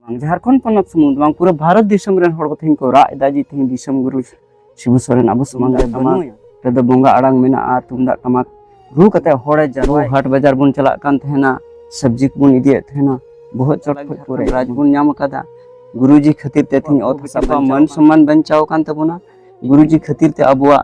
ᱵᱟᱝ ᱡᱷᱟᱲᱠᱷᱚᱸᱰ ᱯᱚᱱᱚᱛ ᱥᱩᱢᱩᱝ ᱵᱟᱝ ᱯᱩᱨᱟᱹ ᱵᱷᱟᱨᱚᱛ ᱫᱤᱥᱚᱢ ᱨᱮᱱ ᱦᱚᱲ ᱠᱚ ᱛᱮᱦᱮᱧ ᱠᱚ ᱨᱟᱜ ᱮᱫᱟ ᱡᱮ ᱛᱮᱦᱮᱧ ᱫᱤᱥᱚᱢ ᱜᱩᱨᱩ ᱥᱤᱵᱩ ᱥᱚᱨᱮᱱ ᱟᱵᱚ ᱥᱟᱢᱟᱝ ᱨᱮ ᱵᱟᱹᱱᱩᱭᱟ ᱨᱮᱫᱚ ᱵᱚᱸᱜᱟ ᱟᱲᱟᱝ ᱢᱮᱱᱟᱜᱼᱟ ᱛᱩᱢᱫᱟᱜ ᱴᱟᱢᱟᱠ ᱨᱩ ᱠᱟᱛᱮ ᱦᱚᱲᱮ ᱡᱟᱨᱣᱟ ᱦᱟᱴ ᱵᱟᱡᱟᱨ ᱵᱚᱱ ᱪᱟᱞᱟᱜ ᱠᱟᱱ ᱛᱟᱦᱮᱱᱟ ᱥᱚᱵᱽᱡᱤ ᱠᱚᱵᱚᱱ ᱤᱫᱤᱭᱮᱫ ᱛᱟᱦᱮᱱᱟ ᱵᱚᱦᱚᱜ ᱪᱚᱴ ᱠᱷᱚᱡ ᱯᱩᱨᱟᱹ ᱨᱟᱡᱽ ᱵᱚᱱ ᱧᱟᱢ ᱟᱠᱟᱫᱟ ᱜᱩᱨᱩᱡᱤ ᱠᱷᱟᱹᱛᱤᱨ ᱛᱮ ᱛᱮᱦᱮᱧ ᱚᱛ ᱦᱟᱥᱟ ᱢᱟᱹᱱ ᱥᱚᱢᱢᱟᱱ ᱵᱟᱧᱪᱟᱣ ᱟᱠᱟᱱ ᱛᱟᱵᱚᱱᱟ ᱜᱩᱨᱩᱡᱤ ᱠᱷᱟᱹᱛᱤᱨ ᱛᱮ ᱟᱵᱚᱣᱟᱜ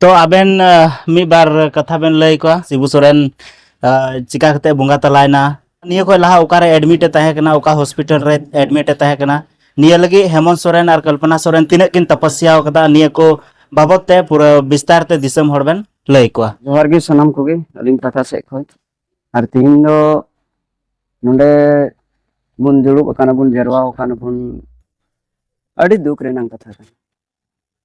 ᱛᱚ ᱟᱵᱮᱱ ᱢᱤᱫ ᱵᱟᱨ ᱠᱟᱛᱷᱟ ᱵᱮᱱ ᱞᱟᱹᱭ ᱠᱚᱣᱟ ᱥᱤᱵᱩ ᱥᱚᱨᱮᱱ ᱪᱤᱠᱟ ᱠᱟᱛᱮ ᱵᱚᱸᱜᱟ ᱛᱟᱞᱟᱭᱱᱟ ᱱᱤᱭᱟᱹ ᱠᱷᱚᱱ ᱞᱟᱦᱟ ᱚᱠᱟᱨᱮ ᱮᱰᱢᱤᱴ ᱮ ᱛᱟᱦᱮᱸ ᱠᱟᱱᱟ ᱚᱠᱟ ᱦᱚᱥᱯᱤᱴᱟᱞ ᱨᱮ ᱮᱰᱢᱤᱴ ᱮ ᱛᱟᱦᱮᱸ ᱠᱟᱱᱟ ᱱᱤᱭᱟᱹ ᱞᱟᱹᱜᱤᱫ ᱦᱮᱢᱚᱱᱛ ᱥᱚᱨᱮᱱ ᱟᱨ ᱠᱚᱞᱯᱚᱱᱟ ᱥᱚᱨᱮᱱ ᱛᱤᱱᱟᱹᱜ ᱠᱤᱱ ᱛᱟᱯᱟᱥᱭᱟ ᱟᱠᱟᱫᱟ ᱱᱤᱭᱟᱹ ᱠᱚ ᱵᱟᱵᱚᱛ ᱛᱮ ᱯᱩᱨᱟᱹ ᱵᱤᱥᱛᱟᱨ ᱛᱮ ᱫᱤᱥᱚᱢ ᱦᱚᱲ ᱵᱮᱱ ᱞᱟᱹᱭ ᱠᱚᱣᱟ ᱡᱚᱦᱟᱨ ᱜᱮ ᱥᱟᱱᱟᱢ ᱠᱚᱜᱮ ᱟᱹᱞᱤᱧ ᱯᱟᱦᱴᱟ ᱥᱮᱫ ᱠᱷᱚᱱ ᱟᱨ ᱛᱤᱦᱤᱧ ᱫᱚ ᱱᱚᱰᱮ ᱵᱚᱱ ᱫᱩᱲᱩᱵ ᱟᱠᱟᱱᱟ ᱵᱚᱱ ᱡᱟᱨᱣᱟ ᱟᱠᱟᱱᱟ ᱵᱚᱱ ᱟᱹᱰᱤ ᱫᱩᱠ ᱨᱮᱱᱟᱜ ᱠᱟᱛᱷᱟ ᱠᱟᱱᱟ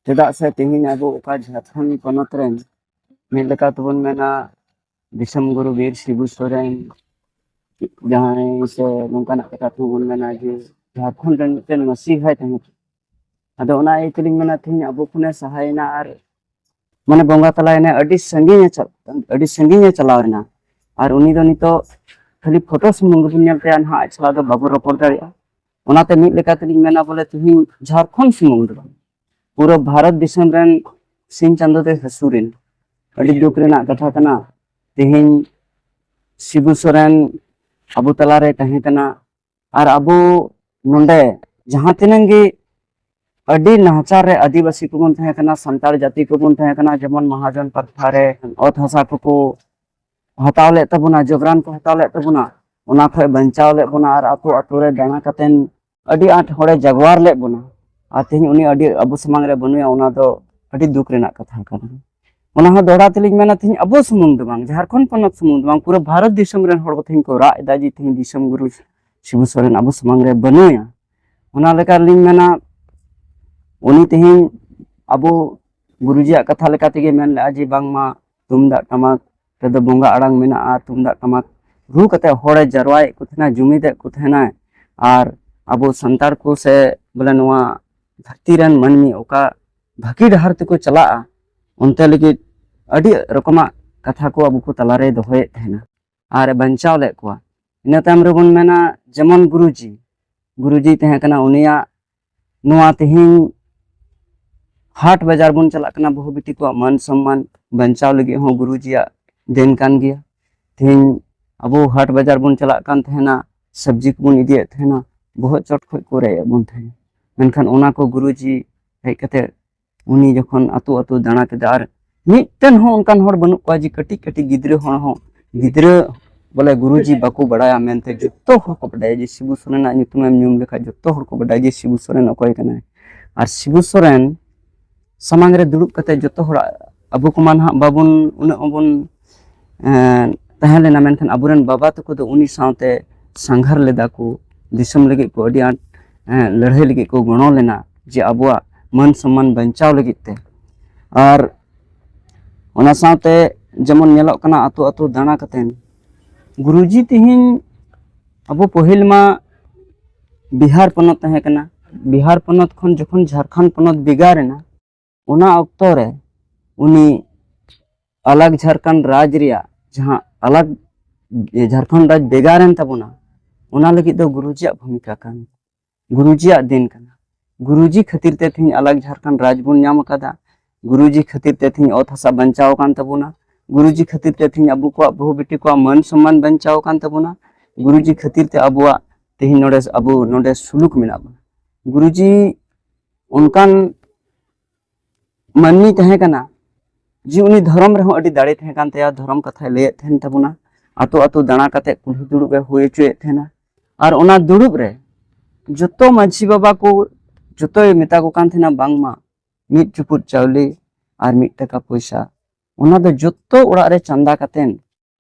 ᱪᱮᱫᱟᱜ ᱥᱮ ᱛᱮᱦᱮᱧ ᱟᱵᱚ ᱚᱠᱟ ᱡᱷᱟᱲᱠᱷᱚᱸᱰ ᱯᱚᱱᱚᱛ ᱨᱮᱱ ᱢᱤᱫ ᱞᱮᱠᱟ ᱛᱮᱵᱚᱱ ᱢᱮᱱᱟ ᱫᱤᱥᱚᱢ ᱜᱩᱨᱩ ᱵᱤᱨ ᱥᱤᱵᱩ ᱥᱚᱨᱮᱱ ᱡᱟᱦᱟᱸᱭ ᱥᱮ ᱱᱚᱝᱠᱟᱱᱟᱜ ᱠᱟᱛᱷᱟ ᱛᱮᱵᱚᱱ ᱢᱮᱱᱟ ᱡᱮ ᱡᱷᱟᱲᱠᱷᱚᱸᱰ ᱨᱮᱱ ᱢᱤᱫᱴᱮᱱ ᱢᱟᱹᱥᱤ ᱦᱚᱸᱭ ᱛᱟᱦᱮᱸ ᱠᱟᱱᱟ ᱟᱫᱚ ᱚᱱᱟ ᱤᱭᱟᱹ ᱛᱮᱞᱤᱧ ᱢᱮᱱᱟ ᱛᱮᱦᱮᱧ ᱟᱵᱚ ᱠᱷᱚᱱᱮ ᱥᱟᱦᱟᱭᱮᱱᱟ ᱟᱨ ᱢᱟᱱᱮ ᱵᱚᱸᱜᱟ ᱛᱟᱞᱟᱭᱮᱱᱟ ᱟᱹᱰᱤ ᱥᱟᱺᱜᱤᱧ ᱟᱹᱰᱤ ᱥᱟᱺᱜᱤᱧ ᱮ ᱪᱟᱞᱟᱣ ᱮᱱᱟ ᱟᱨ ᱩᱱᱤ ᱫᱚ ᱱᱤᱛᱚᱜ ᱠᱷᱟᱹᱞᱤ ᱯᱷᱳᱴᱳ ᱥᱩᱢᱩᱝ ᱜᱮᱵᱚᱱ ᱧᱮᱞ ᱛᱟᱭᱟ ᱱᱟᱦᱟᱜ ᱟᱡ ᱥᱟᱞᱟᱜ ᱫᱚ ᱵᱟᱵᱚ ᱨᱚᱯᱚᱲ ᱫᱟᱲᱮᱭᱟᱜᱼᱟ ᱚᱱᱟᱛᱮ ᱢᱤᱫ ᱞᱮᱠᱟ ᱛᱮᱞᱤᱧ ᱢᱮᱱᱟ ᱵᱚᱞᱮ ᱛᱤᱦᱤᱧ ᱡᱷᱟᱲᱠᱷᱚᱸᱰ ᱥᱩᱢᱩᱝ ᱫᱚ ᱵᱟᱝ ᱯᱩᱨᱟᱹ ᱵᱷᱟᱨᱚᱛ ᱫᱤᱥᱚᱢ ᱨᱮᱱ ᱥᱤᱧ ᱪᱟᱸᱫᱳ ᱫᱚᱭ ᱦᱟᱹᱥᱩᱨᱮᱱ ᱟᱹᱰᱤ ᱫᱩᱠ ᱨᱮᱱᱟᱜ ᱠᱟᱛᱷᱟ ᱠᱟᱱᱟ ᱛᱤᱦᱤᱧ ᱥᱤᱵᱩ ᱥᱚᱨᱮᱱ ᱟᱵᱚ ᱛᱟᱞᱟᱨᱮ ᱛᱟᱦᱮᱸ ᱠᱟᱱᱟ ᱟᱨ ᱟᱵᱚ ᱱᱚᱰᱮ ᱡᱟᱦᱟᱸ ᱛᱤᱱᱟᱹᱝ ᱜᱮ ᱟᱹᱰᱤ ᱱᱟᱦᱟᱪᱟᱨ ᱨᱮ ᱟᱹᱫᱤᱵᱟᱹᱥᱤ ᱠᱚᱵᱚᱱ ᱛᱟᱦᱮᱸ ᱠᱟᱱᱟ ᱥᱟᱱᱛᱟᱲ ᱡᱟᱹᱛᱤ ᱠᱚᱵᱚᱱ ᱛᱟᱦᱮᱸ ᱠᱟᱱᱟ ᱡᱮᱢᱚᱱ ᱢᱟᱦᱟᱡᱚᱱ ᱯᱟᱛᱷᱟ ᱨᱮ ᱚᱛ ᱦᱟᱥᱟ ᱠᱚᱠᱚ ᱦᱟᱛᱟᱣ ᱞᱮᱫ ᱛᱟᱵᱚᱱᱟ ᱡᱚᱵᱽᱨᱟᱱ ᱠᱚ ᱦᱟᱛᱟᱣ ᱞᱮᱫ ᱛᱟᱵᱚᱱᱟ ᱚᱱᱟ ᱠᱷᱚᱡ ᱵᱟᱧᱪᱟᱣ ᱞᱮᱫ ᱵᱚᱱᱟ ᱟᱨ ᱟᱛᱳ ᱟᱛᱳ ᱨᱮ ᱫᱟᱬᱟ ᱠᱟᱛᱮᱱ ᱟᱹᱰᱤ ᱟᱸᱴ ᱦᱚᱲᱮ ᱡᱟᱜᱣᱟᱨ ᱞᱮᱫ ᱵᱚᱱᱟ ᱟᱨ ᱛᱮᱦᱮᱧ ᱩᱱᱤ ᱟᱹᱰᱤ ᱟᱵᱚ ᱥᱟᱢᱟᱝ ᱨᱮ ᱵᱟᱹᱱᱩᱭᱟ ᱚᱱᱟ ᱫᱚ ᱟᱹᱰᱤ ᱫᱩᱠ ᱨᱮᱱᱟᱜ ᱠᱟᱛᱷᱟ ᱠᱟᱱᱟ ᱚᱱᱟ ᱦᱚᱸ ᱫᱚᱦᱲᱟ ᱛᱮᱞᱤᱧ ᱢᱮᱱᱟ ᱛᱮᱦᱮᱧ ᱟᱵᱚ ᱥᱩᱢᱩᱝ ᱫᱚ ᱵᱟᱝ ᱡᱷᱟᱲᱠᱷᱚᱸᱰ ᱯᱚᱱᱚᱛ ᱥᱩᱢᱩᱝ ᱫᱚ ᱵᱟᱝ ᱯᱩᱨᱟᱹ ᱵᱷᱟᱨᱚᱛ ᱫᱤᱥᱚᱢ ᱨᱮᱱ ᱦᱚᱲ ᱠᱚ ᱛᱮᱦᱮᱧ ᱠᱚ ᱨᱟᱜ ᱮᱫᱟ ᱡᱮ ᱛᱮᱦᱮᱧ ᱫᱤᱥᱚᱢ ᱜᱩᱨᱩ ᱥᱤᱵᱩ ᱥᱚᱨᱮᱱ ᱟᱵᱚ ᱥᱟᱢᱟᱝ ᱨᱮ ᱵᱟᱹᱱᱩᱭᱟ ᱚᱱᱟ ᱞᱮᱠᱟ ᱨᱮᱞᱤᱧ ᱢᱮᱱᱟ ᱩᱱᱤ ᱛᱮᱦᱮᱧ ᱟᱵᱚ ᱜᱩᱨᱩᱡᱤᱭᱟᱜ ᱠᱟᱛᱷᱟ ᱞᱮᱠᱟ ᱛᱮᱜᱮ ᱢᱮᱱ ᱞᱮᱫᱼᱟ ᱡᱮ ᱵᱟᱝᱢᱟ ᱛᱩᱢᱫᱟᱜ ᱴᱟᱢᱟᱠ ᱨᱮᱫᱚ ᱵᱚᱸᱜᱟ ᱟᱲᱟᱝ ᱢᱮᱱᱟᱜᱼᱟ ᱛᱩᱢᱫᱟᱜ ᱴᱟᱢᱟᱠ ᱨᱩ ᱠᱟᱛᱮ ᱦᱚᱲᱮ ᱡᱟᱨᱣᱟᱭᱮᱫ ᱠᱚ ᱛᱟᱦᱮᱱᱟ ᱡᱩᱢᱤᱫᱮᱫ ᱠᱚ ᱛᱟᱦᱮᱱᱟᱭ ᱟᱨ ᱟᱵᱚ ᱥᱟᱱᱛᱟᱲ ᱠᱚ ᱥᱮ ᱵᱚᱞᱮ ᱱᱚᱣᱟ ᱫᱷᱟᱹᱨᱛᱤ ᱨᱮᱱ ᱢᱟᱹᱱᱢᱤ ᱚᱠᱟ ᱵᱷᱟᱹᱜᱤ ᱰᱟᱦᱟᱨ ᱛᱮᱠᱚ ᱪᱟᱞᱟᱜᱼᱟ ᱚᱱᱛᱮ ᱞᱟᱹᱜᱤᱫ ᱟᱹᱰᱤ ᱨᱚᱠᱚᱢᱟᱜ ᱠᱟᱛᱷᱟ ᱠᱚ ᱟᱵᱚ ᱠᱚ ᱛᱟᱞᱟᱨᱮ ᱫᱚᱦᱚᱭᱮᱫ ᱛᱟᱦᱮᱱᱟ ᱟᱨ ᱵᱟᱧᱪᱟᱣ ᱞᱮᱫ ᱠᱚᱣᱟ ᱤᱱᱟᱹ ᱛᱟᱭᱚᱢ ᱨᱮᱵᱚᱱ ᱢᱮᱱᱟ ᱡᱮᱢᱚᱱ ᱜᱩᱨᱩᱡᱤ ᱜᱩᱨᱩᱡᱤ ᱛᱟᱦᱮᱸ ᱠᱟᱱᱟ ᱩᱱᱤᱭᱟᱜ ᱱᱚᱣᱟ ᱛᱮᱦᱮᱧ ᱦᱟᱴ ᱵᱟᱡᱟᱨ ᱵᱚᱱ ᱪᱟᱞᱟᱜ ᱠᱟᱱᱟ ᱵᱟᱹᱦᱩ ᱵᱤᱴᱤ ᱠᱚᱣᱟᱜ ᱢᱟᱱ ᱥᱚᱱᱢᱟᱱ ᱵᱟᱧᱪᱟᱣ ᱞᱟᱹᱜᱤᱫ ᱦᱚᱸ ᱜᱩᱨᱩᱡᱤᱭᱟᱜ ᱫᱮᱱ ᱠᱟᱱ ᱜᱮᱭᱟ ᱛᱮᱦᱮᱧ ᱟᱵᱚ ᱦᱟᱴ ᱵᱟᱡᱟᱨ ᱵᱚᱱ ᱪᱟᱞᱟᱜ ᱠᱟᱱ ᱛᱟᱦᱮᱱᱟ ᱥᱚᱵᱽᱡᱤ ᱠᱚᱵᱚᱱ ᱤᱫᱤᱭᱮᱫ ᱛᱟᱦᱮᱱᱟ ᱵᱚᱦᱚᱜ ᱪᱚᱴ ᱠᱷᱚᱡ ᱠᱚ ᱨᱮᱡ ᱮᱫ ᱵᱚᱱ ᱛᱟᱦᱮᱱᱟ ᱢᱮᱱᱠᱷᱟᱱ ᱚᱱᱟ ᱠᱚ ᱜᱩᱨᱩᱡᱤ ᱦᱮᱡ ᱠᱟᱛᱮ ᱩᱱᱤ ᱡᱚᱠᱷᱚᱱ ᱟᱛᱳ ᱟᱛᱳ ᱫᱟᱬᱟ ᱠᱮᱫᱟ ᱟᱨ ᱢᱤᱫᱴᱮᱱ ᱦᱚᱸ ᱚᱱᱠᱟᱱ ᱦᱚᱲ ᱵᱟᱹᱱᱩᱜ ᱠᱚᱣᱟ ᱡᱮ ᱠᱟᱹᱴᱤᱡ ᱠᱟᱹᱴᱤᱡ ᱜᱤᱫᱽᱨᱟᱹ ᱦᱚᱲ ᱦᱚᱸ ᱜᱤᱫᱽᱨᱟᱹ ᱵᱚᱞᱮ ᱜᱩᱨᱩᱡᱤ ᱵᱟᱠᱚ ᱵᱟᱲᱟᱭᱟ ᱢᱮᱱᱛᱮ ᱡᱚᱛᱚ ᱦᱚᱲ ᱠᱚ ᱵᱟᱰᱟᱭᱟ ᱡᱮ ᱥᱤᱵᱩ ᱥᱚᱨᱮᱱᱟᱜ ᱧᱩᱛᱩᱢᱮᱢ ᱧᱩᱢ ᱞᱮᱠᱷᱟᱡ ᱡᱚᱛᱚ ᱦᱚᱲ ᱠᱚ ᱵᱟᱰᱟᱭᱟ ᱡᱮ ᱥᱤᱵᱩ ᱥᱚᱨᱮᱱ ᱚᱠᱚᱭ ᱠᱟᱱᱟᱭ ᱟᱨ ᱥᱤᱵᱩ ᱥᱚᱨᱮᱱ ᱥᱟᱢᱟᱝ ᱨᱮ ᱫᱩᱲᱩᱵ ᱠᱟᱛᱮ ᱡᱚᱛᱚ ᱦᱚᱲᱟᱜ ᱟᱵᱚ ᱠᱚᱢᱟ ᱱᱟᱦᱟᱜ ᱵᱟᱵᱚᱱ ᱩᱱᱟᱹᱜ ᱵᱚᱱ ᱛᱟᱦᱮᱸ ᱞᱮᱱᱟ ᱢᱮᱱᱠᱷᱟᱱ ᱟᱵᱚᱨᱮᱱ ᱵᱟᱵᱟ ᱛᱟᱠᱚ ᱫᱚ ᱩᱱᱤ ᱥᱟᱶᱛᱮ ᱥᱟᱸᱜᱷᱟᱨ ᱞᱮᱫᱟ ᱠᱚ ᱫᱤᱥᱚᱢ ᱞᱟᱹᱜᱤᱫ ᱠᱚ ᱟᱹᱰᱤ ᱟᱸᱴ ᱞᱟᱹᱲᱦᱟᱹᱭ ᱞᱟᱹᱜᱤᱫ ᱠᱚ ᱜᱚᱲᱚ ᱞᱮᱱᱟ ᱡᱮ ᱟᱵᱚᱣᱟᱜ ᱢᱟᱹᱱ ᱥᱚᱱᱢᱟᱱ ᱵᱟᱧᱪᱟᱣ ᱞᱟᱹᱜᱤᱫ ᱛᱮ ᱟᱨ ᱚᱱᱟ ᱥᱟᱶᱛᱮ ᱡᱮᱢᱚᱱ ᱧᱮᱞᱚᱜ ᱠᱟᱱᱟ ᱟᱛᱳ ᱟᱛᱳ ᱫᱟᱬᱟ ᱠᱟᱛᱮᱫ ᱜᱩᱨᱩᱡᱤ ᱛᱮᱦᱮᱧ ᱟᱵᱚ ᱯᱟᱹᱦᱤᱞ ᱢᱟ ᱵᱤᱦᱟᱨ ᱯᱚᱱᱚᱛ ᱛᱟᱦᱮᱸ ᱠᱟᱱᱟ ᱵᱤᱦᱟᱨ ᱯᱚᱱᱚᱛ ᱠᱷᱚᱱ ᱡᱚᱠᱷᱚᱱ ᱡᱷᱟᱲᱠᱷᱚᱸᱰ ᱯᱚᱱᱚᱛ ᱵᱷᱮᱜᱟᱨ ᱮᱱᱟ ᱚᱱᱟ ᱚᱠᱛᱚ ᱨᱮ ᱩᱱᱤ ᱟᱞᱟᱜᱽ ᱡᱷᱟᱲᱠᱷᱚᱸᱰ ᱨᱟᱡᱽ ᱨᱮᱭᱟᱜ ᱡᱟᱦᱟᱸ ᱟᱞᱟᱜᱽ ᱡᱷᱟᱲᱠᱷᱚᱸᱰ ᱨᱟᱡᱽ ᱵᱷᱮᱜᱟᱨᱮᱱ ᱛᱟᱵᱚᱱᱟ ᱚᱱᱟ ᱞᱟᱹᱜᱤᱫ ᱫᱚ ᱜᱩᱨᱩᱡᱤᱭᱟᱜ ᱵᱷᱩᱢᱤᱠᱟ ᱠᱟᱱ ᱜᱩᱨᱩᱡᱤᱭᱟᱜ ᱫᱤᱱ ᱠᱟᱱᱟ ᱜᱩᱨᱩᱡᱤ ᱠᱷᱟᱹᱛᱤᱨ ᱛᱮ ᱛᱮᱦᱮᱧ ᱟᱞᱟᱜᱽ ᱡᱷᱟᱲᱠᱷᱚᱸᱰ ᱨᱟᱡᱽ ᱵᱚᱱ ᱧᱟᱢ ᱟᱠᱟᱫᱟ ᱜᱩᱨᱩᱡᱤ ᱠᱷᱟᱹᱛᱤᱨ ᱛᱮ ᱛᱮᱦᱮᱧ ᱚᱛ ᱦᱟᱥᱟ ᱵᱟᱧᱪᱟᱣ ᱟᱠᱟᱱ ᱛᱟᱵᱚᱱᱟ ᱜᱩᱨᱩᱡᱤ ᱠᱷᱟᱹᱛᱤᱨ ᱛᱮ ᱛᱮᱦᱮᱧ ᱟᱵᱚ ᱠᱚᱣᱟᱜ ᱵᱟᱹᱦᱩ ᱵᱤᱴᱤ ᱠᱚᱣᱟᱜ ᱢᱟᱹᱱ ᱥᱚᱱᱢᱟᱱ ᱵᱟᱧᱪᱟᱣ ᱟᱠᱟᱱ ᱛᱟᱵᱚᱱᱟ ᱜᱩᱨᱩᱡᱤ ᱠᱷᱟᱹᱛᱤᱨ ᱛᱮ ᱟᱵᱚᱣᱟᱜ ᱛᱮᱦᱮᱧ ᱱᱚᱰᱮ ᱟᱵᱚ ᱱᱚᱰᱮ ᱥᱩᱞᱩᱠ ᱢᱮᱱᱟᱜ ᱵᱚᱱᱟ ᱜᱩᱨᱩᱡᱤ ᱚᱱᱠᱟᱱ ᱢᱟᱹᱱᱢᱤ ᱛᱟᱦᱮᱸ ᱠᱟᱱᱟ ᱡᱮ ᱩᱱᱤ ᱫᱷᱚᱨᱚᱢ ᱨᱮᱦᱚᱸ ᱟᱹᱰᱤ ᱫᱟᱲᱮ ᱛᱟᱦᱮᱸ ᱠᱟᱱ ᱛᱟᱭᱟ ᱫᱷᱚᱨᱚᱢ ᱠᱟᱛᱷᱟᱭ ᱞᱟᱹᱭᱮᱫ ᱛᱟᱦᱮᱱ ᱛᱟᱵᱚᱱᱟ ᱟᱛᱳ ᱟᱛᱳ ᱫᱟᱬᱟ ᱠᱟᱛᱮ ᱠᱩᱞᱦᱤ ᱫᱩᱲᱩᱵ ᱮ ᱦᱩᱭ ᱦᱚᱪᱚᱭᱮᱫ ᱛᱟᱦᱮᱱᱟ ᱟᱨ ᱚᱱᱟ ᱫᱩᱲᱩᱵ ᱨᱮ ᱡᱚᱛᱚ ᱢᱟᱺᱡᱷᱤ ᱵᱟᱵᱟ ᱠᱚ ᱡᱚᱛᱚᱭ ᱢᱮᱛᱟ ᱠᱚ ᱠᱟᱱ ᱛᱟᱦᱮᱱᱟ ᱵᱟᱝᱢᱟ ᱢᱤᱫ ᱪᱩᱯᱩᱫ ᱪᱟᱣᱞᱮ ᱟᱨ ᱢᱤᱫ ᱴᱟᱠᱟ ᱯᱚᱭᱥᱟ ᱚᱱᱟ ᱫᱚ ᱡᱚᱛᱚ ᱚᱲᱟᱜ ᱨᱮ ᱪᱟᱸᱫᱟ ᱠᱟᱛᱮᱱ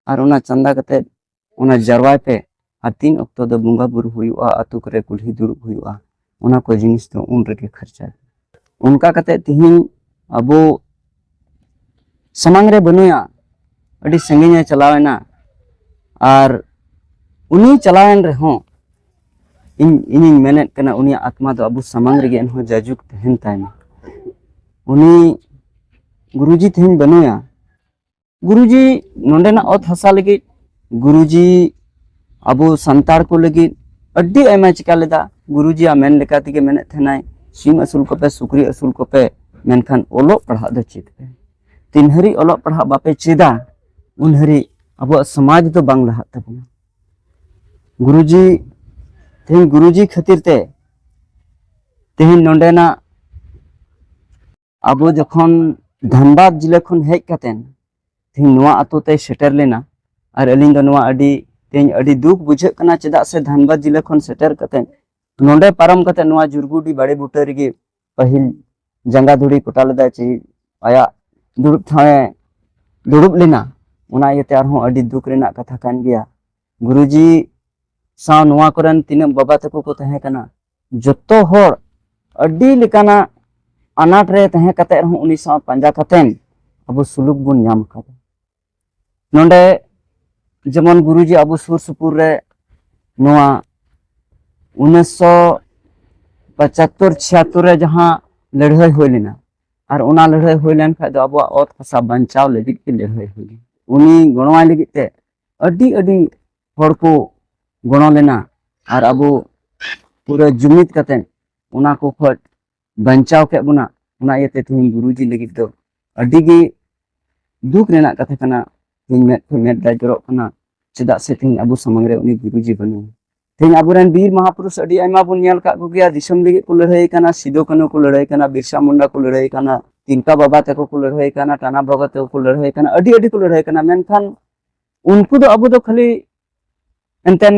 ᱟᱨ ᱚᱱᱟ ᱪᱟᱸᱫᱟ ᱠᱟᱛᱮ ᱚᱱᱟ ᱡᱟᱨᱣᱟᱭ ᱯᱮ ᱟᱨ ᱛᱤᱱ ᱚᱠᱛᱚ ᱫᱚ ᱵᱚᱸᱜᱟ ᱵᱩᱨᱩ ᱦᱩᱭᱩᱜᱼᱟ ᱟᱛᱳ ᱠᱚᱨᱮ ᱠᱩᱞᱦᱤ ᱫᱩᱲᱩᱵ ᱦᱩᱭᱩᱜᱼᱟ ᱚᱱᱟ ᱠᱚ ᱡᱤᱱᱤᱥ ᱫᱚ ᱩᱱ ᱨᱮᱜᱮ ᱠᱷᱚᱨᱪᱟ ᱚᱱᱠᱟ ᱠᱟᱛᱮ ᱛᱤᱦᱤᱧ ᱟᱵᱚ ᱥᱟᱢᱟᱝ ᱨᱮ ᱵᱟᱹᱱᱩᱭᱟ ᱟᱹᱰᱤ ᱥᱟᱺᱜᱤᱧᱮ ᱪᱟᱞᱟᱣᱮᱱᱟ ᱟᱨ ᱩᱱᱤ ᱪᱟᱞᱟᱣᱮᱱ ᱨᱮᱦᱚᱸ ᱤᱧ ᱤᱧᱤᱧ ᱢᱮᱱᱮᱫ ᱠᱟᱱᱟ ᱩᱱᱤᱭᱟᱜ ᱟᱛᱢᱟ ᱫᱚ ᱟᱵᱚ ᱥᱟᱢᱟᱝ ᱨᱮᱜᱮ ᱮᱱᱦᱚᱸ ᱡᱟᱭᱡᱩᱜᱽ ᱛᱟᱦᱮᱱ ᱛᱟᱭᱢᱟ ᱩᱱᱤ ᱜᱩᱨᱩᱡᱤ ᱛᱮᱦᱮᱧ ᱵᱟᱹᱱᱩᱭᱟ ᱜᱩᱨᱩᱡᱤ ᱱᱚᱰᱮᱱᱟᱜ ᱚᱛ ᱦᱟᱥᱟ ᱞᱟᱹᱜᱤᱫ ᱜᱩᱨᱩᱡᱤ ᱟᱵᱚ ᱥᱟᱱᱛᱟᱲ ᱠᱚ ᱞᱟᱹᱜᱤᱫ ᱟᱹᱰᱤ ᱟᱭᱢᱟ ᱪᱤᱠᱟ ᱞᱮᱫᱟ ᱜᱩᱨᱩᱡᱤᱭᱟᱜ ᱢᱮᱱ ᱞᱮᱠᱟ ᱛᱮᱜᱮ ᱢᱮᱱᱮᱫ ᱛᱟᱦᱮᱱᱟᱭ ᱥᱤᱢ ᱟᱹᱥᱩᱞ ᱠᱚᱯᱮ ᱥᱩᱠᱨᱤ ᱟᱹᱥᱩᱞ ᱠᱚᱯᱮ ᱢᱮᱱᱠᱷᱟᱱ ᱚᱞᱚᱜ ᱯᱟᱲᱦᱟᱜ ᱫᱚ ᱪᱮᱫ ᱯᱮ ᱛᱤᱱ ᱦᱟᱹᱨᱤᱡ ᱚᱞᱚᱜ ᱯᱟᱲᱦᱟᱜ ᱵᱟᱯᱮ ᱪᱮᱫᱟ ᱩᱱ ᱦᱟᱹᱨᱤᱡ ᱟᱵᱚᱣᱟᱜ ᱥᱚᱢᱟᱡᱽ ᱫᱚ ᱵᱟᱝ ᱞᱟᱦᱟᱜ ᱛᱟᱵᱚᱱᱟ ᱜᱩᱨᱩᱡᱤ ᱛᱮᱦᱮᱧ ᱜᱩᱨᱩᱡᱤ ᱠᱷᱟᱹᱛᱤᱨ ᱛᱮ ᱛᱮᱦᱮᱧ ᱱᱚᱰᱮᱱᱟᱜ ᱟᱵᱚ ᱡᱚᱠᱷᱚᱱ ᱫᱷᱟᱱᱵᱟᱫᱽ ᱡᱤᱞᱟᱹ ᱠᱷᱚᱱ ᱦᱮᱡ ᱠᱟᱛᱮᱱ ᱛᱮᱦᱮᱧ ᱱᱚᱣᱟ ᱟᱛᱳ ᱛᱮ ᱥᱮᱴᱮᱨ ᱞᱮᱱᱟ ᱟᱨ ᱟᱹᱞᱤᱧ ᱫᱚ ᱱᱚᱣᱟ ᱟᱹᱰᱤ ᱛᱮᱦᱮᱧ ᱟᱹᱰᱤ ᱫᱩᱠ ᱵᱩᱡᱷᱟᱹᱜ ᱠᱟᱱᱟ ᱪᱮᱫᱟᱜ ᱥᱮ ᱫᱷᱟᱱᱵᱟᱫᱽ ᱡᱤᱞᱟᱹ ᱠᱷᱚᱱ ᱥᱮᱴᱮᱨ ᱠᱟᱛᱮᱱ ᱱᱚᱰᱮ ᱯᱟᱨᱚᱢ ᱠᱟᱛᱮ ᱱᱚᱣᱟ ᱡᱩᱨᱜᱩᱰᱤ ᱵᱟᱲᱮ ᱵᱩᱴᱟᱹ ᱨᱮᱜᱮ ᱯᱟᱹᱦᱤᱞ ᱡᱟᱸᱜᱟ ᱫᱷᱩᱲᱤ ᱠᱚᱴᱟ ᱞᱮᱫᱟᱭ ᱪᱮ ᱟᱭᱟᱜ ᱫᱩᱲᱩᱵ ᱴᱷᱟᱶᱮ ᱫᱩᱲᱩᱵ ᱞᱮᱱᱟ ᱚᱱᱟ ᱤᱭᱟᱹᱛᱮ ᱟᱨᱦᱚᱸ ᱟᱹᱰᱤ ᱫᱩᱠ ᱨᱮᱱᱟᱜ ᱠᱟᱛᱷᱟ ᱠᱟᱱ ᱜᱮᱭᱟ ᱜᱩᱨᱩᱡᱤ ᱥᱟᱶ ᱱᱚᱣᱟ ᱠᱚᱨᱮᱱ ᱛᱤᱱᱟᱹᱜ ᱵᱟᱵᱟ ᱛᱟᱠᱚ ᱠᱚ ᱛᱟᱦᱮᱸ ᱠᱟᱱᱟ ᱡᱚᱛᱚ ᱦᱚᱲ ᱟᱹᱰᱤ ᱞᱮᱠᱟᱱᱟᱜ ᱟᱱᱟᱴ ᱨᱮ ᱛᱟᱦᱮᱸ ᱠᱟᱛᱮ ᱨᱮᱦᱚᱸ ᱩᱱᱤ ᱥᱟᱶ ᱯᱟᱸᱡᱟ ᱠᱟᱛᱮᱱ ᱟᱵᱚ ᱥᱩᱞᱩᱠ ᱵᱚᱱ ᱧᱟᱢ ᱟᱠᱟᱫᱟ ᱱᱚᱰᱮ ᱡᱮᱢᱚᱱ ᱜᱩᱨᱩᱡᱤ ᱟᱵᱚ ᱥᱩᱨ ᱥᱩᱯᱩᱨ ᱨᱮ ᱱᱚᱣᱟ ᱩᱱᱤᱥᱥᱚ ᱯᱚᱸᱪᱟᱛᱛᱳᱨ ᱪᱷᱤᱭᱟᱛᱛᱳᱨ ᱨᱮ ᱡᱟᱦᱟᱸ ᱞᱟᱹᱲᱦᱟᱹᱭ ᱦᱩᱭ ᱞᱮᱱᱟ ᱟᱨ ᱚᱱᱟ ᱞᱟᱹᱲᱦᱟᱹᱭ ᱦᱩᱭ ᱞᱮᱱ ᱠᱷᱟᱡ ᱫᱚ ᱟᱵᱚᱣᱟᱜ ᱚᱛ ᱦᱟᱥᱟ ᱵᱟᱧᱪᱟᱣ ᱞᱟᱹᱜᱤᱫ ᱛᱮ ᱞᱟᱹᱲᱦᱟᱹᱭ ᱦᱩᱭ ᱞᱮᱱᱟ ᱩᱱᱤ ᱜᱚᱲᱚᱣᱟᱭ ᱞᱟᱹᱜᱤᱫ ᱛᱮ ᱟᱹᱰᱤ ᱟᱹᱰᱤ ᱦᱚᱲ ᱠᱚ ᱜᱚᱲᱚ ᱞᱮᱱᱟ ᱟᱨ ᱟᱵᱚ ᱯᱩᱨᱟᱹ ᱡᱩᱢᱤᱫ ᱠᱟᱛᱮ ᱚᱱᱟ ᱠᱚ ᱠᱷᱚᱡ ᱵᱟᱧᱪᱟᱣ ᱠᱮᱫ ᱵᱚᱱᱟ ᱚᱱᱟ ᱤᱭᱟᱹᱛᱮ ᱛᱮᱦᱮᱧ ᱜᱩᱨᱩᱡᱤ ᱞᱟᱹᱜᱤᱫ ᱫᱚ ᱟᱹᱰᱤ ᱜᱮ ᱫᱩᱠ ᱨᱮᱱᱟᱜ ᱠᱟᱛᱷᱟ ᱠᱟᱱᱟ ᱛᱮᱦᱮᱧ ᱢᱮᱫ ᱠᱷᱚᱱ ᱢᱮᱫ ᱫᱟᱜ ᱡᱚᱨᱚᱜ ᱠᱟᱱᱟ ᱪᱮᱫᱟᱜ ᱥᱮ ᱛᱮᱦᱮᱧ ᱟᱵᱚ ᱥᱟᱢᱟᱝ ᱨᱮ ᱩᱱᱤ ᱜᱩᱨᱩᱡᱤ ᱵᱟᱹᱱᱩᱭᱟ ᱛᱮᱦᱮᱧ ᱟᱵᱚᱨᱮᱱ ᱵᱤᱨ ᱢᱟᱦᱟᱯᱩᱨᱩᱥ ᱟᱹᱰᱤ ᱟᱭᱢᱟ ᱵᱚᱱ ᱧᱮᱞ ᱠᱟᱜ ᱠᱚᱜᱮᱭᱟ ᱫᱤᱥᱚᱢ ᱞᱟᱹᱜᱤᱫ ᱠᱚ ᱞᱟᱹᱲᱦᱟᱹᱭ ᱠᱟᱱᱟ ᱥᱤᱫᱩ ᱠᱟᱹᱱᱩ ᱠᱚ ᱞᱟᱹᱲᱦᱟᱹᱭ ᱠᱟᱱᱟ ᱵᱤᱨᱥᱟ ᱢᱩᱱᱰᱟ ᱠᱚ ᱞᱟᱹᱲᱦᱟᱹᱭ ᱠᱟᱱᱟ ᱛᱤᱞᱠᱟ ᱵᱟᱵᱟ ᱛᱟᱠᱚ ᱠᱚ ᱞᱟᱹᱲᱦᱟᱹᱭ ᱠᱟᱱᱟ ᱴᱟᱱᱟ ᱵᱟᱵᱟ ᱛᱟᱠᱚ ᱠᱚ ᱞᱟᱹᱲᱦᱟᱹᱭ ᱠᱟᱱᱟ ᱟᱹᱰᱤ ᱟᱹᱰᱤ ᱠᱚ ᱞᱟᱹᱲᱦᱟᱹᱭ ᱠᱟᱱᱟ ᱢᱮᱱᱠᱷᱟᱱ ᱩᱱᱠᱩ ᱫᱚ ᱟᱵᱚ ᱫᱚ ᱠᱷᱟᱹᱞᱤ ᱮᱱᱛᱮᱱ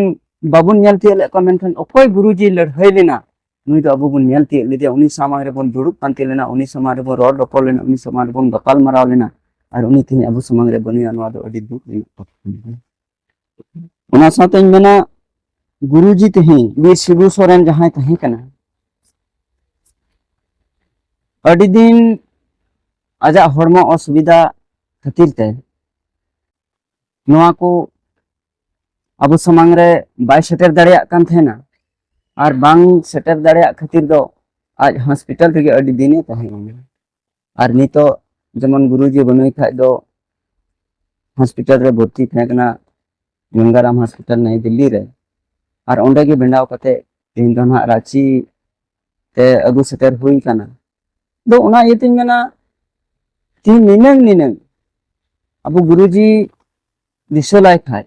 ᱵᱟᱵᱚᱱ ᱧᱮᱞ ᱛᱤᱭᱳᱜ ᱞᱮᱫ ᱠᱚᱣᱟ ᱢᱮᱱᱠᱷᱟᱱ ᱚᱠᱚᱭ ᱜᱩᱨᱩᱡᱤ ᱞᱟᱹᱲᱦᱟᱹᱭ ᱞᱮᱱᱟ ᱱᱩᱭ ᱫᱚ ᱟᱵᱚ ᱵᱚᱱ ᱧᱮᱞ ᱛᱤᱭᱳᱜ ᱞᱮᱫᱮᱭᱟ ᱩᱱᱤ ᱥᱟᱢᱟᱝ ᱨᱮᱵᱚᱱ ᱫᱩᱲᱩᱵ ᱯᱟᱱᱛᱮ ᱞᱮᱱᱟ ᱩᱱᱤ ᱥᱟᱢᱟᱝ ᱨᱮᱵᱚᱱ ᱨᱚᱲ ᱨᱚᱯᱚᱲ ᱞᱮᱱᱟ ᱩᱱᱤ ᱥᱟᱢᱟᱝ ᱨᱮᱵᱚᱱ ᱜᱟᱯᱟᱞ ᱢᱟᱨᱟᱣ ᱞᱮᱱᱟ ᱟᱨ ᱩᱱᱤ ᱛᱮᱦᱮᱧ ᱟᱵᱚ ᱥᱟᱢᱟᱝ ᱨᱮ ᱵᱟᱹᱱᱩᱭᱟ ᱱᱚᱣᱟ ᱫᱚ ᱟᱹᱰᱤ ᱫᱩᱠ ᱨᱮᱱᱟᱜ ᱠᱟᱛᱷᱟ ᱠᱟᱱᱟ ᱚᱱᱟ ᱥᱟᱶᱛᱮᱧ ᱢᱮᱱᱟ ᱜᱩᱨᱩᱡᱤ ᱛᱮᱦᱮᱧ ᱵᱤᱨ ᱥᱤᱵᱩ ᱥᱚᱨᱮᱱ ᱡᱟᱦᱟᱸᱭ ᱛᱟᱦᱮᱸ ᱠᱟᱱᱟ ᱟᱹᱰᱤ ᱫᱤᱱ ᱟᱡᱟᱜ ᱦᱚᱲᱢᱚ ᱚᱥᱩᱵᱤᱫᱷᱟ ᱠᱷᱟᱹᱛᱤᱨ ᱛᱮ ᱱᱚᱣᱟ ᱠᱚ ᱟᱵᱚ ᱥᱟᱢᱟᱝ ᱨᱮ ᱵᱟᱭ ᱥᱮᱴᱮᱨ ᱫᱟᱲᱮᱭᱟᱜ ᱠᱟᱱ ᱛᱟᱦᱮᱱᱟ ᱟᱨ ᱵᱟᱝ ᱥᱮᱴᱮᱨ ᱫᱟᱲᱮᱭᱟᱜ ᱠᱷᱟᱹᱛᱤᱨ ᱫᱚ ᱟᱡ ᱦᱚᱥᱯᱤᱴᱟᱞ ᱨᱮᱜᱮ ᱟᱹᱰᱤ ᱫᱤᱱᱮ ᱛᱟᱦᱮᱸ ᱠᱟᱱᱟ ᱟᱨ ᱱᱤᱛᱚᱜ ᱡᱮᱢᱚᱱ ᱜᱩᱨᱩᱡᱤ ᱵᱟᱹᱱᱩᱭ ᱠᱷᱟᱡ ᱫᱚ ᱦᱚᱥᱯᱤᱴᱟᱞ ᱨᱮ ᱵᱷᱚᱨᱛᱤ ᱛᱟᱦᱮᱸ ᱠᱟᱱᱟ ᱜᱚᱝᱜᱟᱨᱟᱢ ᱦᱚᱥᱯᱤᱴᱟᱞ ᱱᱟᱭ ᱫᱤᱞᱞᱤ ᱨᱮ ᱟᱨ ᱚᱸᱰᱮ ᱜᱮ ᱵᱮᱱᱟᱣ ᱠᱟᱛᱮ ᱛᱮᱦᱮᱧ ᱫᱚ ᱱᱟᱦᱟᱜ ᱨᱟᱺᱪᱤ ᱛᱮ ᱟᱹᱜᱩ ᱥᱮᱴᱮᱨ ᱦᱩᱭ ᱠᱟᱱᱟ ᱫᱚ ᱚᱱᱟ ᱤᱭᱟᱹᱛᱮᱧ ᱢᱮᱱᱟ ᱛᱤᱦᱤᱧ ᱱᱤᱱᱟᱹᱝ ᱱᱤᱱᱟᱹᱝ ᱟᱵᱚ ᱜᱩᱨᱩᱡᱤ ᱫᱤᱥᱟᱹ ᱞᱟᱭ ᱠᱷᱟᱡ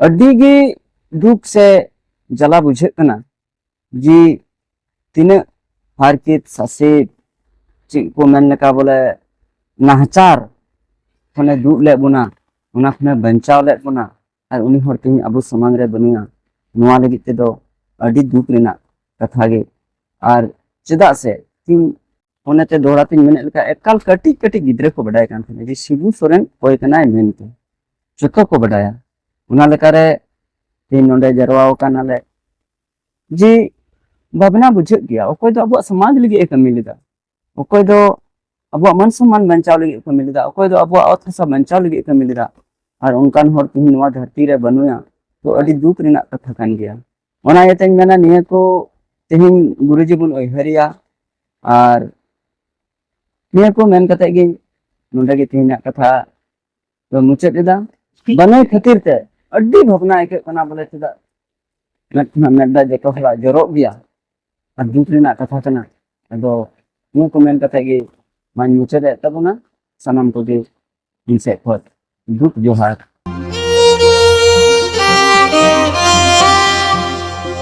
ᱟᱹᱰᱤ ᱜᱮ ᱫᱩᱠ ᱥᱮ ᱡᱟᱞᱟ ᱵᱩᱡᱷᱟᱹᱜ ᱠᱟᱱᱟ ᱡᱮ ᱛᱤᱱᱟᱹᱜ ᱦᱟᱨᱠᱮᱛ ᱥᱟᱥᱮᱛ ᱪᱮᱫ ᱠᱚ ᱢᱮᱱ ᱞᱮᱠᱟ ᱵᱚᱞᱮ ᱱᱟᱦᱟᱪᱟᱨ ᱠᱷᱚᱱᱮ ᱫᱩᱜ ᱞᱮᱫ ᱵᱚᱱᱟ ᱚᱱᱟ ᱠᱷᱚᱱᱮ ᱵᱟᱧᱪᱟᱣ ᱞᱮᱫ ᱵᱚᱱᱟ ᱟᱨ ᱩᱱᱤ ᱦᱚᱲ ᱛᱮᱦᱮᱧ ᱟᱵᱚ ᱥᱟᱢᱟᱝ ᱨᱮ ᱵᱟᱹᱱᱩᱭᱟ ᱱᱚᱣᱟ ᱞᱟᱹᱜᱤᱫ ᱛᱮᱫᱚ ᱟᱹᱰᱤ ᱫᱩᱠ ᱨᱮᱱᱟᱜ ᱠᱟᱛᱷᱟ ᱜᱮ ᱟᱨ ᱪᱮᱫᱟᱜ ᱥᱮ ᱛᱤᱧ ᱚᱱᱟᱛᱮ ᱫᱚᱦᱲᱟ ᱛᱤᱧ ᱢᱮᱱᱮᱫ ᱞᱮᱠᱟ ᱮᱠᱟᱞ ᱠᱟᱹᱴᱤᱡ ᱠᱟᱹᱴᱤᱡ ᱜᱤᱫᱽᱨᱟᱹ ᱠᱚ ᱵᱟᱰᱟᱭ ᱠᱟᱱ ᱛᱟᱦᱮᱱᱟ ᱡᱮ ᱥᱤᱵᱩ ᱥᱚᱨᱮᱱ ᱚᱠᱚᱭ ᱠᱟᱱᱟᱭ ᱢᱮᱱᱛᱮ ᱡᱚᱛᱚ ᱠᱚ ᱵᱟᱰᱟᱭᱟ ᱚᱱᱟ ᱞᱮᱠᱟᱨᱮ ᱛᱮᱦᱮᱧ ᱱᱚᱰᱮ ᱡᱟᱨᱣᱟ ᱟᱠᱟᱱᱟᱞᱮ ᱡᱮ ᱵᱷᱟᱵᱽᱱᱟ ᱵᱩᱡᱷᱟᱹᱜ ᱜᱮᱭᱟ ᱚᱠᱚᱭ ᱫᱚ ᱟᱵᱚᱣᱟᱜ ᱥᱚᱢᱟᱡᱽ ᱞᱟᱹᱜᱤᱫ ᱮ ᱠᱟᱹᱢᱤ ᱞᱮᱫᱟ ᱚᱠᱚᱭ ᱫᱚ ᱟᱵᱚᱣᱟᱜ ᱢᱟᱱ ᱥᱚᱢᱢᱟᱱ ᱵᱟᱧᱪᱟᱣ ᱞᱟᱹᱜᱤᱫ ᱠᱟᱹᱢᱤ ᱞᱮᱫᱟ ᱚᱠᱚᱭ ᱫᱚ ᱟᱵᱚᱣᱟᱜ ᱚᱛ ᱦᱟᱥᱟ ᱵᱟᱧᱪᱟᱣ ᱞᱟᱹᱜᱤᱫ ᱠᱟᱹᱢᱤ ᱞᱮᱫᱟ ᱟᱨ ᱚᱱᱠᱟᱱ ᱦᱚᱲ ᱛᱮᱦᱮᱧ ᱱᱚᱣᱟ ᱫᱷᱟᱹᱨᱛᱤ ᱨᱮ ᱵᱟᱹᱱᱩᱭᱟ ᱛᱚ ᱟᱹᱰᱤ ᱫᱩᱠ ᱨᱮᱱᱟᱜ ᱠᱟᱛᱷᱟ ᱠᱟᱱ ᱜᱮᱭᱟ ᱚᱱᱟ ᱤᱭᱟᱹᱛᱮᱧ ᱢᱮᱱᱟ ᱱᱤᱭᱟᱹ ᱠᱚ ᱛᱮᱦᱮᱧ ᱜᱩᱨᱩᱡᱤ ᱵᱚᱱ ᱩᱭᱦᱟᱹᱨᱮᱭᱟ ᱟᱨ ᱱᱤᱭᱟᱹ ᱠᱚ ᱢᱮᱱ ᱠᱟᱛᱮ ᱜᱮ ᱱᱚᱰᱮ ᱜᱮ ᱛᱮᱦᱮᱧᱟᱜ ᱠᱟᱛᱷᱟ ᱛᱚ ᱢᱩᱪᱟᱹᱫ ᱮᱫᱟ ᱵᱟᱹᱱᱩᱭ ᱠᱷᱟᱹᱛᱤᱨ ᱛᱮ ᱟᱹᱰᱤ ᱵᱷᱟᱵᱽᱱᱟ ᱟᱹᱭᱠᱟᱹᱜ ᱠᱟᱱᱟ ᱵᱚᱞᱮ ᱪᱮᱫᱟᱜ ᱢᱮᱫ ᱠᱷᱚᱱᱟᱜ ᱢᱮᱫ ᱫᱟᱜ ᱡᱚᱛᱚ ᱦᱚᱲᱟᱜ ᱡᱚᱨᱚᱜ ᱜᱮᱭᱟ ᱟᱨ ᱫᱩᱠ ᱨᱮᱱᱟᱜ ᱠᱟᱛᱷᱟ ᱠᱟᱱᱟ ᱟᱫᱚ ᱱᱤᱭᱟᱹ ᱠᱚ ᱢᱮᱱ ᱠᱟᱛᱮ ᱜᱮ ᱢᱟᱧ ᱢᱩᱪᱟᱹᱫ ᱮᱫ ᱛᱟᱵᱚᱱᱟ ᱥᱟᱱᱟᱢ ᱠᱚᱜᱮ ᱤᱧ ᱥᱮᱫ ᱠᱷᱚᱱ ᱫᱩᱠ ᱡᱚᱦᱟᱨ